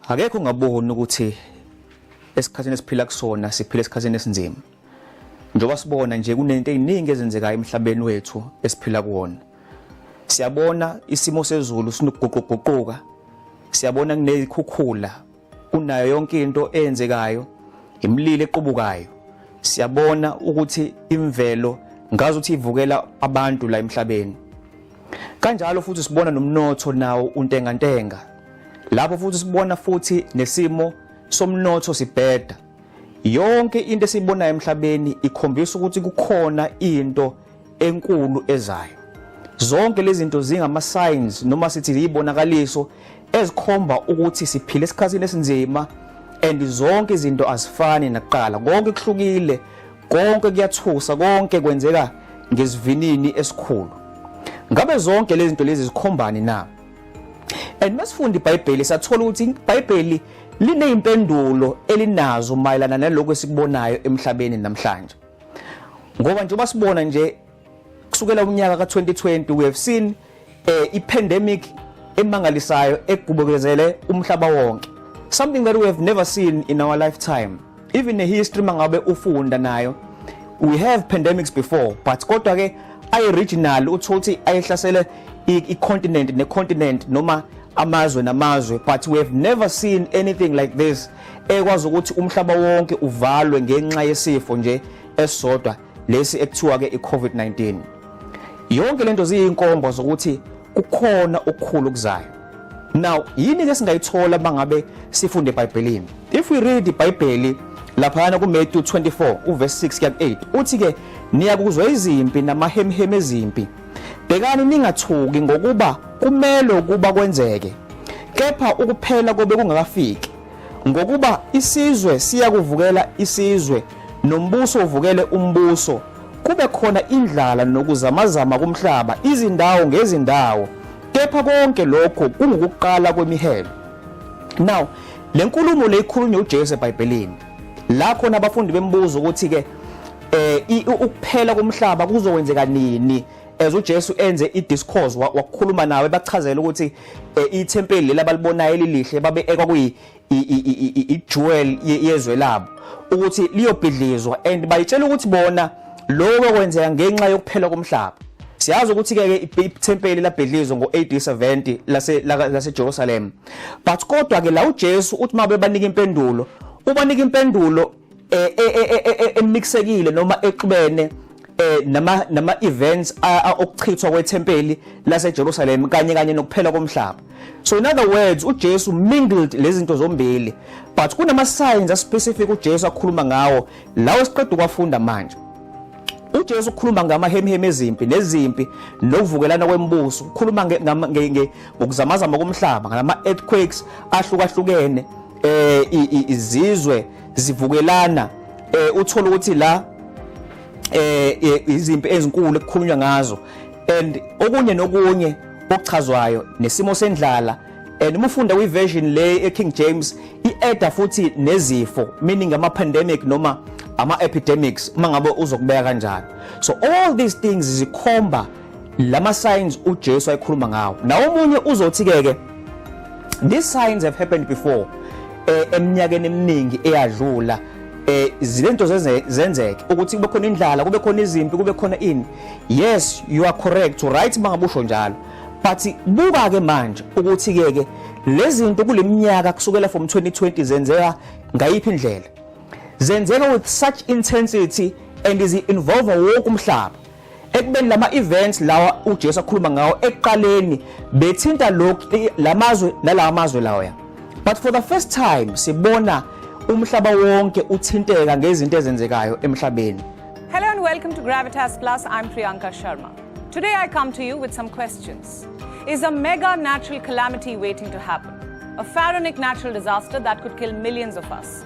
akekho ongaboni ukuthi esikhathini esiphila kusona siphila esikhathini esinzima njengoba sibona nje kunento eziningi ezenzekayo emhlabeni wethu esiphila kuwona siyabona isimo sezulu sinokuguquguquka siyabona kunezikhukhula kunayo yonke into eyenzekayo imlilo equbukayo siyabona ukuthi imvelo ngazi ukuthi ivukela abantu la emhlabeni kanjalo futhi sibona nomnotho nawo untengantenga lapho futhi sibona futhi nesimo somnotho sibheda yonke into esiyibonayo emhlabeni ikhombisa ukuthi kukhona into enkulu ezayo. Zonke lezi zinto zingama signs noma sithi izibonakaliso ezikhomba ukuthi siphile esikhathini esinzima and zonke izinto azifani nakuqala. Konke kuhlukile, konke kuyathusa, konke kwenzeka ngesivinini esikhulu. Ngabe zonke lezi zinto lezi zikhombani na? And masifunda iBhayibheli sathola ukuthi iBhayibheli lineyimpendulo elinazo mayelana nalokho esikubonayo emhlabeni namhlanje. ngoba njengoba sibona nje kusukela umnyaka ka-2020 we have seen eh, i-pandemic emangalisayo egubukezele umhlaba wonke something that we have never seen in our lifetime even a history mangabe ufunda nayo we have pandemics before but kodwa ke ayi regional uthola ukuthi ayehlasele i-continent ne-continent noma amazwe namazwe but we have never seen anything like this ekwazi ukuthi umhlaba wonke uvalwe ngenxa yesifo nje esisodwa lesi ekuthiwa-ke i-covid-19 yonke le nto ziyinkomba zokuthi kukhona okukhulu okuzayo now yini ke singayithola bangabe sifunde eBhayibhelini if we read iBhayibheli laphayana kuMatthew 24 uverse 6 kuya 8 uthi ke niyakuzwa izimpi namahemheme ezimpi Bhekani ningathuki ngokuba kumelwe ukuba kwenzeke, kepha ukuphela kobe kungakafiki. Ngokuba isizwe siya kuvukela isizwe, nombuso uvukele umbuso, kube khona indlala nokuzamazama kumhlaba, izindawo ngezindawo, kepha konke lokho kungukuqala kwemihelo. Now, le nkulumo le ikhulunywa uJesu eBhayibhelini. la khona abafundi bembuza ukuthi ke eh ukuphela komhlaba kuzokwenzeka nini as uJesu enze idiscourse wakukhuluma nawe ebachazela ukuthi eh, ithempeli leli abalibonayo elilihle babe ekwakuyi ijewel yezwe labo ukuthi liyobhidlizwa and bayitshela ukuthi bona lokho kwenzeka ngenxa yokuphela komhlaba siyazi ukuthi ke ithempeli labhidlizwa ngo-AD 70 lase laseJerusalem but kodwa ke la uJesu uthi mabe banika impendulo ubanika impendulo eh, eh, eh, emixekile noma exubene eh nama nama events okuchithwa kwethempeli laseJerusalem kanye kanye nokuphela komhlaba so in other words uJesu mingled lezinto zombili but kunama signs a specific uJesu akhuluma ngawo lawo siqeda ukwafunda manje uJesu ukhuluma ngamahemihemi ezimpi nezimpi nokuvukelana kwemibuso ukhuluma ukuzamazama komhlaba ngalama earthquakes ahlukahlukene eh izizwe zivukelana eh uthola ukuthi la eh, eh izimpi ezinkulu ekukhulunywa ngazo and okunye nokunye okuchazwayo nesimo sendlala and uma ufunda kwi version le e King James ieda futhi nezifo meaning ama pandemic noma ama epidemics uma ngabe uzokubeka kanjani so all these things zikhomba lama signs uJesu ayikhuluma ngawo na omunye uzothi ke ke these signs have happened before eh, eminyakeni eminingi eyadlula eh zilento zenzeke ukuthi kube khona indlala kube khona izimpi kube khona ini yes you are correct right mangabusho njalo but buka ke manje ukuthi ke ke lezinto kuleminyaka kusukela from 2020 zenzeka ngayiphi indlela zenzeka with such intensity and is involve wonke umhlaba ekubeni lama events lawa uJesu akhuluma ngawo ekuqaleni bethinta lokhu lamazwe nalawa mazwe lawa but for the first time sibona umhlaba wonke uthinteka ngezinto ezenzekayo emhlabeni Hello and welcome to Gravitas Plus I'm Priyanka Sharma Today I come to you with some questions Is a mega natural calamity waiting to happen a pharaonic natural disaster that could kill millions of us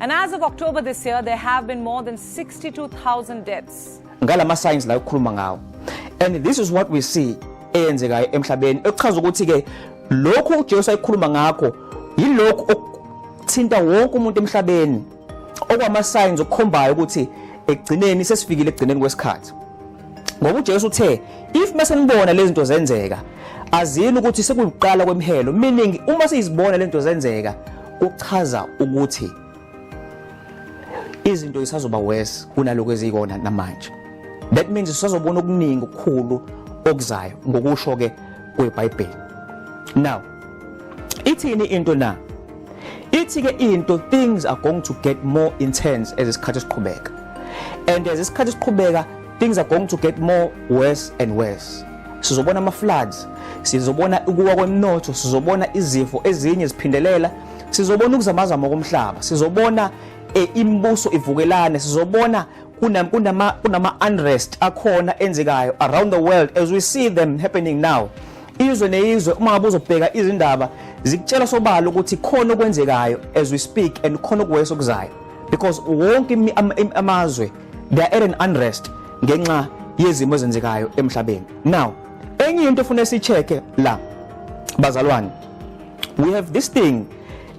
And as of October this year, there have been more than 62,000 deaths. Ngalama signs la ukukhuluma ngawo. And this is what we see eyenzekayo emhlabeni ekuchaza ukuthi ke lokhu uJesu ayikhuluma ngakho yilokhu okuthinta wonke umuntu emhlabeni okwama signs okukhombayo ukuthi ekugcineni sesifikile ekugcineni kwesikhathi. Ngoba uJesu uthe if mase nibona lezi zinto zenzeka azini ukuthi sekuyiqala kwemhelo meaning uma sizibona lento zenzeka Kuchaza ukuthi izinto zisazoba worse kunaloko ezikona namanje. That means sisazobona okuningi okukhulu okuzayo ngokusho ke kweBhayibheli. Now ithini into na? Ithi ke into things are going to get more intense as isikhathi siqhubeka. And as isikhathi siqhubeka Things are going to get more worse and worse. Sizobona ama floods, sizobona ukuwa kwemnotho, sizobona izifo ezinye ziphindelela, sizobona ukuzamazama komhlaba, sizobona e, imibuso ivukelane, sizobona kunama kunama unrest akhona enzekayo around the world as we see them happening now izwe nezwe uma ngabe uzobheka izindaba zikutshela sobala ukuthi khona okwenzekayo as we speak and khona okuweso kuzayo because wonke amazwe they are at an unrest ngenxa yezimo ezenzekayo emhlabeni now enye into efuna sicheke la bazalwane we have this thing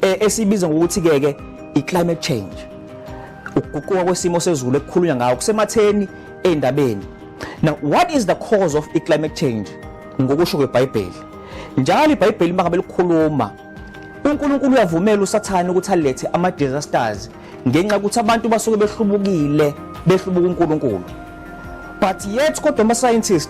eh, esibiza ngokuthi ke ke i climate change ukuguquka kwesimo sezulu ekukhulunywa ngawo kusematheni endabeni now what is the cause of i climate change ngokusho kweBhayibheli njalo iBhayibheli mangabe likhuluma uNkulunkulu uyavumela usathane ukuthi alethe ama disasters ngenxa ukuthi abantu basuke behlubukile behlubuka uNkulunkulu but yet kodwa ama scientist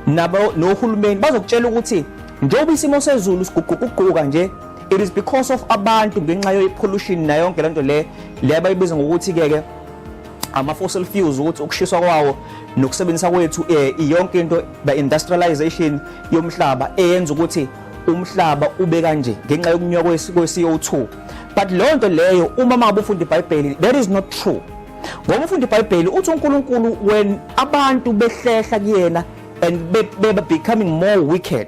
nabo nohulumeni bazokutshela ukuthi njengoba isimo sezulu siguquguquka nje it is because of abantu ngenxa ye pollution na yonke lento le le bayibiza ngokuthi ke ke ama fossil fuels ukuthi ukushiswa kwawo nokusebenzisa kwethu eh, yonke into the industrialization yomhlaba eyenza ukuthi umhlaba ube kanje ngenxa yokunywa kwe-CO2 but leyo nto leyo uma mangabe ufunda ibhayibheli that is not true ngoba ufunda ibhayibheli uthi unkulunkulu when abantu behlehla kuyena and beba becoming more wicked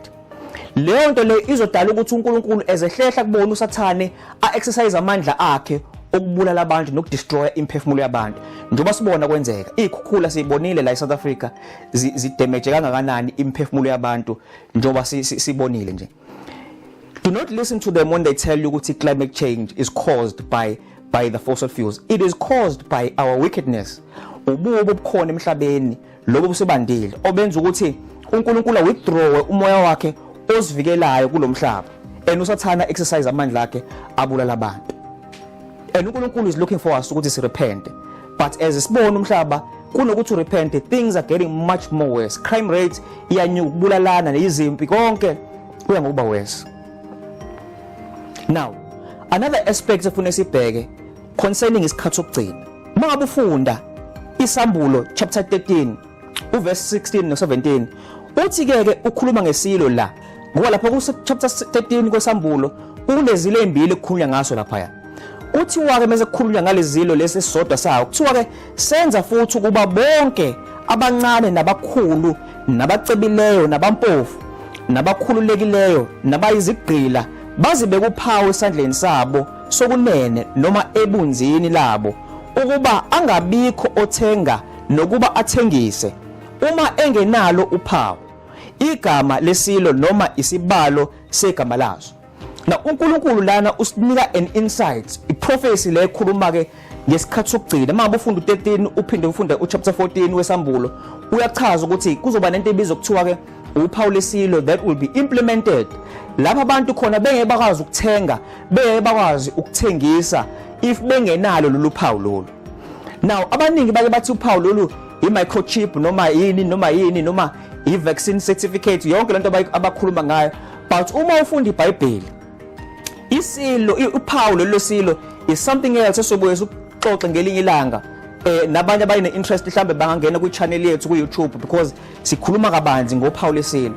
leyo nto leyo izodala ukuthi unkulunkulu ezehlehla kubona usathane a-exercise amandla akhe okubulala abantu nokudestroya imphefumulo yabantu njengoba sibona kwenzeka iy'khukhula siyibonile la e-south africa zidemeje kangakanani imphefumulo yabantu njengoba sibonile nje Do not listen to them when they tell you ukuthi climate change is caused by by the fossil fuels. It is caused by our wickedness. Ububi obukhona emhlabeni lobo busebandile obenza ukuthi uNkulunkulu withdrawe umoya wakhe osivikelayo kulomhlaba. And usathana exercise amandla akhe abulala abantu. And uNkulunkulu is looking for us ukuthi sirepente. but as sibona umhlaba kunokuthi repent things are getting much more worse crime rate iyanyuka ukubulalana nezimpi konke kuya ngokuba worse now another aspect efuna sibheke concerning isikhathi sokugcina uma ngabe ufunda isambulo chapter 13 uvesi 16 no 17 uthi ke ke ukhuluma ngesilo la ngoba lapho ku chapter 13 kwesambulo kunezilo ezimbili kukhulunywa ngaso lapha ya kuthiwa ke mase kukhulunywa ngalezilo lesi sodwa sawo kuthiwa ke senza futhi ukuba bonke abancane nabakhulu nabacebileyo nabampofu nabakhululekileyo nabayizigqila bazibe kuphawu esandleni sabo sokunene noma ebunzini labo ukuba angabikho othenga nokuba athengise uma engenalo uphawu igama lesilo noma isibalo segama lazo na uNkulunkulu lana usinika an insight iprofesi le ekhuluma ke ngesikhathi sokugcina manje ufunda u13 uphinde ufunde uchapter 14 wesambulo uyachaza ukuthi kuzoba nento ebizwa kuthiwa ke uphawu lesilo that will be implemented lapha abantu khona bengeke bakwazi ukuthenga bengeke bakwazi ukuthengisa if bengenalo lolu phawu lolu now abaningi bake bathi uphawu lolu i-microchip noma yini noma yini noma i-vaccine certificate yonke lento abakhuluma ngayo but uma ufunda ibhayibheli isilo uphawu lelo silo is something else esobuye sixoxe ngelinye ilanga eh nabanye abayine interest mhlambe bangangena kwi channel yethu ku YouTube because sikhuluma kabanzi ngophawu lesilo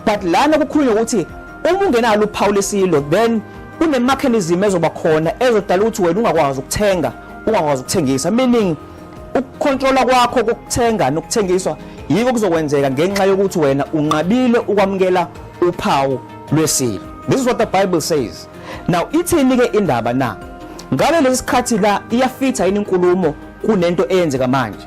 but lana kukhulunywa ukuthi uma ungenalo uphawu lesilo then kunemechanism ezoba khona ezodala ukuthi wena ungakwazi ukuthenga ungakwazi ukuthengisa meaning ukukhontrola kwakho kokuthenga nokuthengiswa yiko kuzokwenzeka ngenxa yokuthi wena unqabile ukwamukela uphawu lwesilo this is what the bible says now ithini ke indaba na ngabe lesikhathi la iyafitha yini inkulumo kunento eyenzeka manje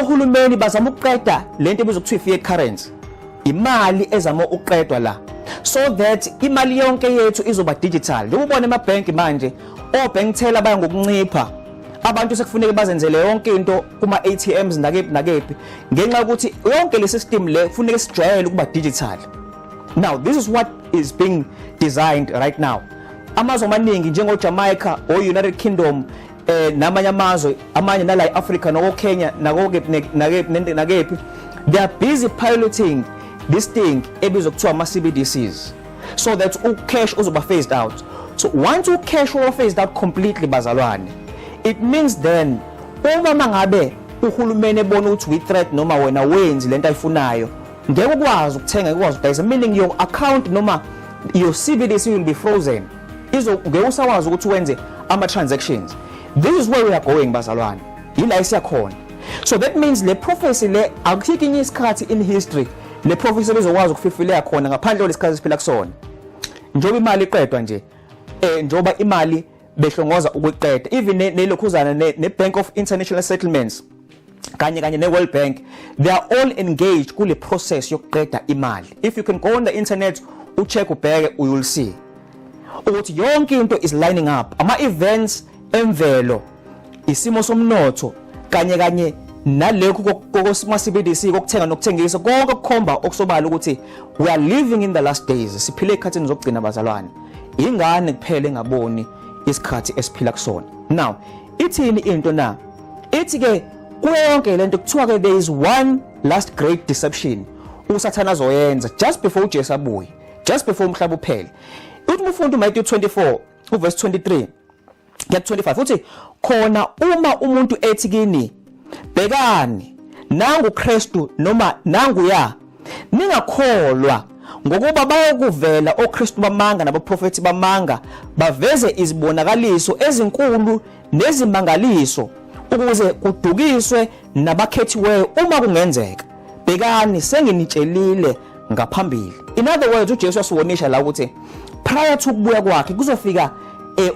ohulumeni bazama ukuqeda lento ebizwa ukuthi fiat currency imali ezama ukuqedwa la so that imali yonke yethu izoba digital njengoba ubona emabhank manje obank teller baya ngokuncipha abantu sekufuneka bazenzele yonke into kuma ATMs nakephi nakephi ngenxa yokuthi yonke le system le kufuneka sijwayele ukuba digital now this is what is being designed right now amazwe amaningi njengo Jamaica o United Kingdom eh namanye amazwe amanye nala eAfrica noko Kenya nako nakephi they are busy piloting this thing ebizwa kuthiwa ama CBDCs so that u cash uzoba phased out so once u cash uba phased out completely bazalwane it means then uma mangabe uhulumeni ebona ukuthi we threat noma wena wenzi lento ayifunayo ngeke ukwazi ukuthenga ukwazi ukudayisa meaning your account noma your CBDC will be frozen izo ngeke usakwazi ukuthi wenze ama transactions this is where we are going bazalwane yila esiyakhona so that means le prophecy le akuthiki inye isikhathi in history le prophecy lizokwazi ukufifileka khona ngaphandle kwesikhathi siphila kusona njengoba imali iqedwa nje eh njengoba imali behlongoza ukuqeda even nelokhuzana ne, ne Bank of International Settlements kanye kanye ne-world bank they are all engaged kule process yokuqeda imali if you can go on the internet ucheck ubheke you will see ukuthi yonke into is lining up ama-events emvelo isimo somnotho kanye kanye nalekhu kokusimasibidisi kokuthenga nokuthengisa konke okukhomba okusobala ukuthi we are living in the last days siphile ekhathini zokugcina bazalwane ingane kuphele ngaboni isikhathi esiphila kusona now ithini into na ithi ke kuyo yonke lento kuthiwa ke there is one last great deception usathana azoyenza just before uJesu abuye just before umhlaba uphele uthi umfundi uMatthew 24 uverse 23 get 25 uthi khona uma umuntu ethi kini bhekani nangu Kristu noma nangu ya ningakholwa ngokuba bayokuvela oKristu bamanga nabaprofeti bamanga baveze izibonakaliso ezinkulu nezimangaliso ukuze kudukiswe nabakhethiweyo uma kungenzeka bhekani senginitshelile ngaphambili in other words uJesu wasiwonisha la ukuthi prior to ukubuya kwakhe kuzofika eh,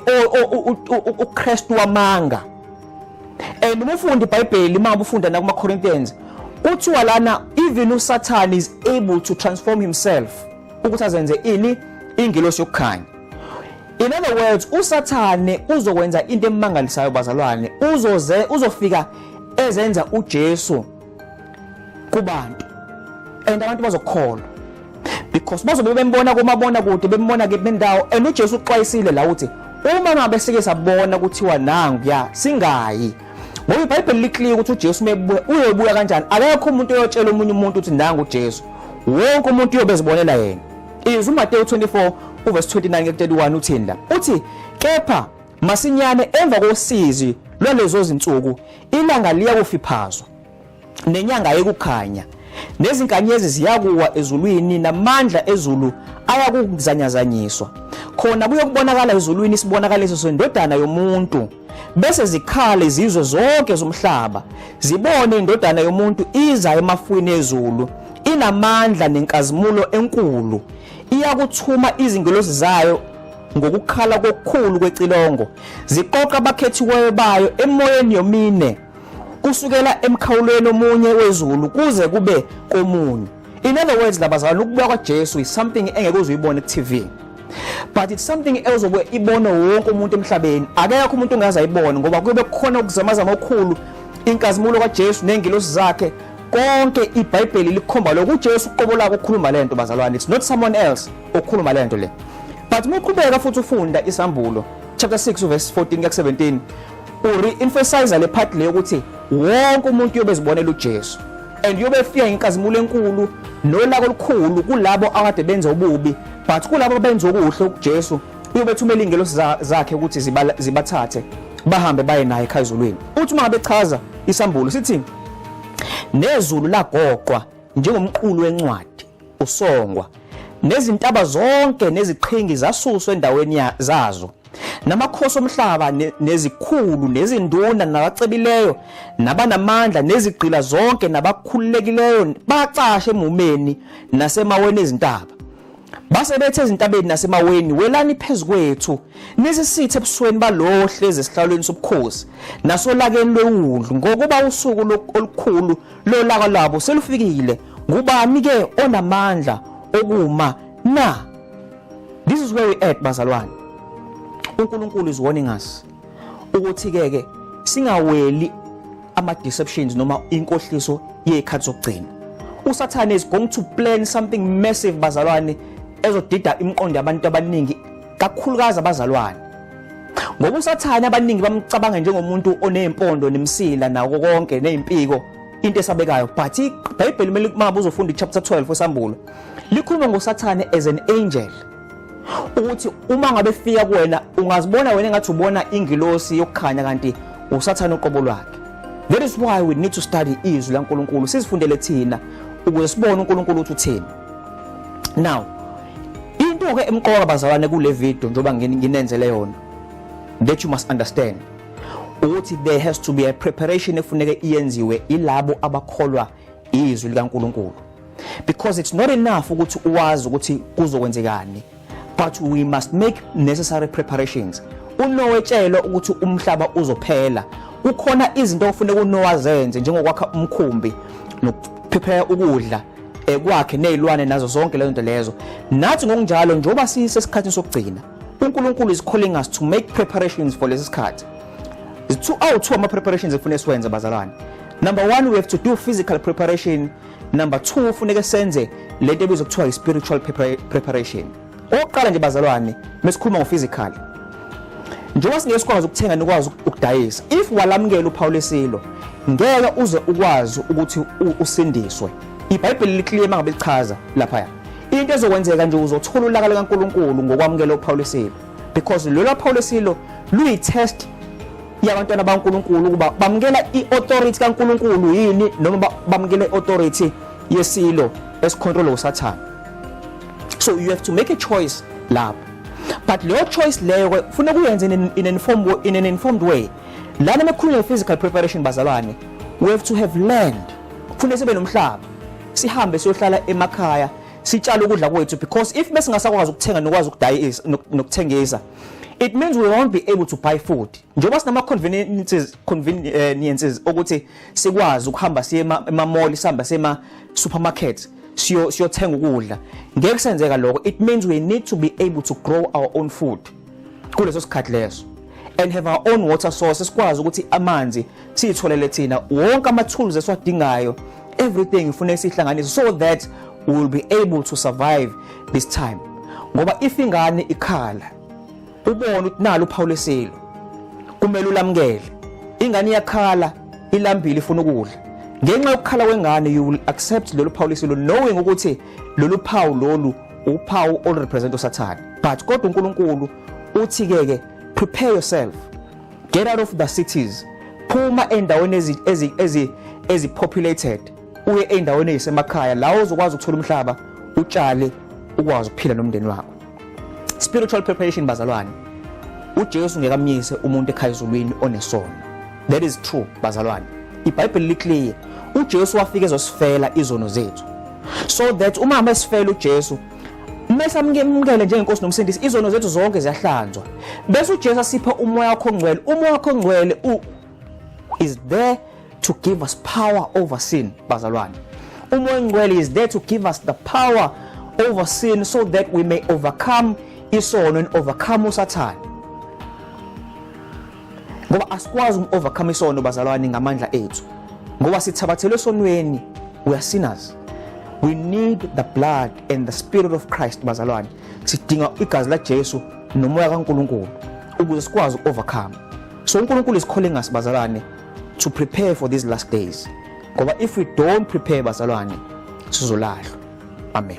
uKristu wamanga and uma ufunda iBhayibheli uma ufunda nakuma Corinthians kuthiwa lana even uSatan is able to transform himself ukuthi azenze ini ingelosi yokukhanya In other words, uSathane uzokwenza into emangalisayo bazalwane, uzoze uzofika ezenza uJesu kubantu. And abantu bazokholwa. Because bazobe bembona komabona kude, bembona ke bendawo and uJesu uxwayisile la uthi uma ngabe sike sabona kuthiwa nangu ya singayi ngoba iBhayibheli liclear ukuthi uJesu mebuya uyobuya kanjani akekho umuntu oyotshela omunye umuntu ukuthi nangu uJesu wonke umuntu uyobezibonela yena Izwi uMateyu 24 uverse 29 ke 31 uthini la? Uthi kepha masinyane emva kosizi lwalezo zinsuku ilanga liya kufiphazwa nenyanga yekukhanya nezinkanyezi ziyakuwa ezulwini namandla ezulu ayakuzanyazanyiswa khona kuyokubonakala ezulwini isibonakaliso sendodana yomuntu bese zikhala izizwe zonke zomhlaba zibone indodana yomuntu iza emafwini ezulu inamandla nenkazimulo enkulu iyakuthuma izingelosi zayo ngokukhala kokukhulu kwecilongo ziqoqa abakhethiweyo bayo emoyeni yomine kusukela emkhawulweni omunye wezulu kuze kube komunye In other words labazalwane ukubuya kwaJesu is something engeke uzuyibone ku TV. But it's something else obuye ibone wonke umuntu emhlabeni. Akekho umuntu ongaze ayibone ngoba kube kukhona ukuzamaza ngokukhulu inkazimulo kaJesu nengilosi zakhe konke iBhayibheli likhomba lokho uJesu uqobo lako ukhuluma lento bazalwane it's not someone else okhuluma lento le but muqhubeka futhi ufunda isambulo chapter 6 verse 14 kuya 17 uri emphasize le part le ukuthi wonke umuntu uyobezibonela uJesu and yobe efika inkazimulo enkulu nolako olukhulu kulabo akade benza ububi but kulabo benza okuhle kuJesu uyobe thumela ingelosi zakhe ukuthi zibathathe bahambe baye naye ekhazulwini uthi uma bechaza isambulo sithi nezulu lagoqwa njengomqulu wencwadi usongwa nezintaba zonke neziqhingi zasuswa endaweni zazo namakhosi omhlaba nezikhulu nezinduna nabacebileyo nabanamandla nezigqila zonke nabakhululekileyo bacashe emumeni nasemaweni ezintaba base bethe ezintabeni nasemaweni welani phezukwethu nisisithe ebusweni balowo hlezi esihlalweni sobukhosi nasolakeni lwewundlu ngokuba usuku olukhulu lolaka lwabo selufikile ngubani ke onamandla okuma na This is where we at bazalwane. UNkulunkulu is warning us ukuthi ke ke singaweli ama deceptions noma inkohliso yezikhathi zokugcina. USathane is going to plan something massive bazalwane ezodida imiqondo yabantu abaningi kakhulukazi abazalwane. Ngoba uSathane abaningi bamcabanga njengomuntu onezimpondo nemsila nako konke nezimpiko into esabekayo but iBhayibheli kumele uma uzofunda ichapter 12 wesambulo likhuluma ngosathane as an angel ukuthi uma ngabe fika kuwena ungazibona wena engathi ubona ingilosi yokukhanya kanti usathane uqobo lwakhe that is why we need to study izwi laNkulunkulu sizifundele thina ukuze sibone uNkulunkulu ukuthi uthini now into ke emqoka bazalwane kule video njoba nginenzele yona that you must understand ukuthi there has to be a preparation efuneke iyenziwe ilabo abakholwa izwi likaNkuluNkulu because it's not enough ukuthi uwazi ukuthi kuzokwenzekani but we must make necessary preparations uNowe tshelwa ukuthi umhlaba uzophela kukhona izinto okufuneka uNowa zenze njengokwakha umkhumbi nokuphephela ukudla ekwakhe nezilwane nazo zonke lezo nto lezo nathi ngokunjalo njengoba sisesikhathini sokugcina uNkulunkulu is calling us to make preparations for lesi sikhathi two awu two ama preparations ekufanele siwenze bazalwane number 1 we have to do physical preparation number 2 ufuneke senze lento ebizwa kuthiwa i spiritual preparation oqala nje bazalwane mesikhuluma ngo physical njengoba singeke sikwazi ukuthenga nikwazi ukudayisa if walamukela uphawu lesilo ngeke uze ukwazi ukuthi usindiswe ibhayibheli liklima ngabe lichaza lapha into ezokwenzeka nje uzothola ulaka likaNkuluNkulu ngokwamukela uPawulisilo because lelo Pawulisilo luyitest yabantwana baNkuluNkulu ukuba bamukela iauthority kaNkuluNkulu yini noma bamukela iauthority yesilo esicontrola uSathane so you have to make a choice lapho but leyo choice leyo kufuneka uyenze in an informed way, in an informed way lana mekhuluma physical preparation bazalwane we have to have land kufuneka sibe nomhlaba sihambe siyohlala emakhaya sitshale ukudla kwethu because if besingasakwazi ukuthenga nokwazi ukudayisa nokuthengisa it means we won't be able to buy food njengoba sinama conveniences conveniences ukuthi sikwazi ukuhamba siye ema mall sihamba sema supermarket siyo siyothenga ukudla ngeke senzeka lokho it means we need to be able to grow our own food kuleso sikhathi leso and have our own water source sikwazi ukuthi amanzi siyitholele thina wonke ama tools esiwadingayo everything ngifuna isihlanganise so that we will be able to survive this time ngoba if ingane ikhala ubona ukuthi nalo uphawu lesilo kumele ulamukele ingane iyakhala ilambile ifuna ukudla ngenxa yokukhala kwengane you will accept lolu phawu lesilo knowing ukuthi lolu phawu lolu uphawu olurepresent usathane but kodwa uNkulunkulu uthi ke ke prepare yourself get out of the cities phuma endaweni ezi ezi ezi ezi populated uye endaweni ezisemakhaya la uzokwazi ukuthola umhlaba utshale ukwazi ukuphila nomndeni wakho spiritual preparation bazalwane uJesu ngekamyise umuntu ekhaya ezulwini onesono that is true bazalwane ibhayibheli liclear uJesu wafika ezosifela izono zethu so that uma mesifela uJesu mese amkemukele njengenkosi nomsindisi izono zethu zonke ziyahlanzwa bese uJesu asipha umoya wakho ongcwele umoya wakho ongcwele u is there to give us power over sin bazalwane umoya ongcwele is there to give us the power over sin so that we may overcome isono and overcome usathane ngoba asikwazi uku-overcome isono bazalwane ngamandla ethu ngoba sithabathelwe esonweni we are sinners we need the blood and the spirit of christ bazalwane sidinga igazi lajesu nomoya kankulunkulu ukuze sikwazi uku-overcome so unkulunkulu isikhole ngasi bazalwane to prepare for these last days ngoba if we don't prepare bazalwane sizolahlwa amen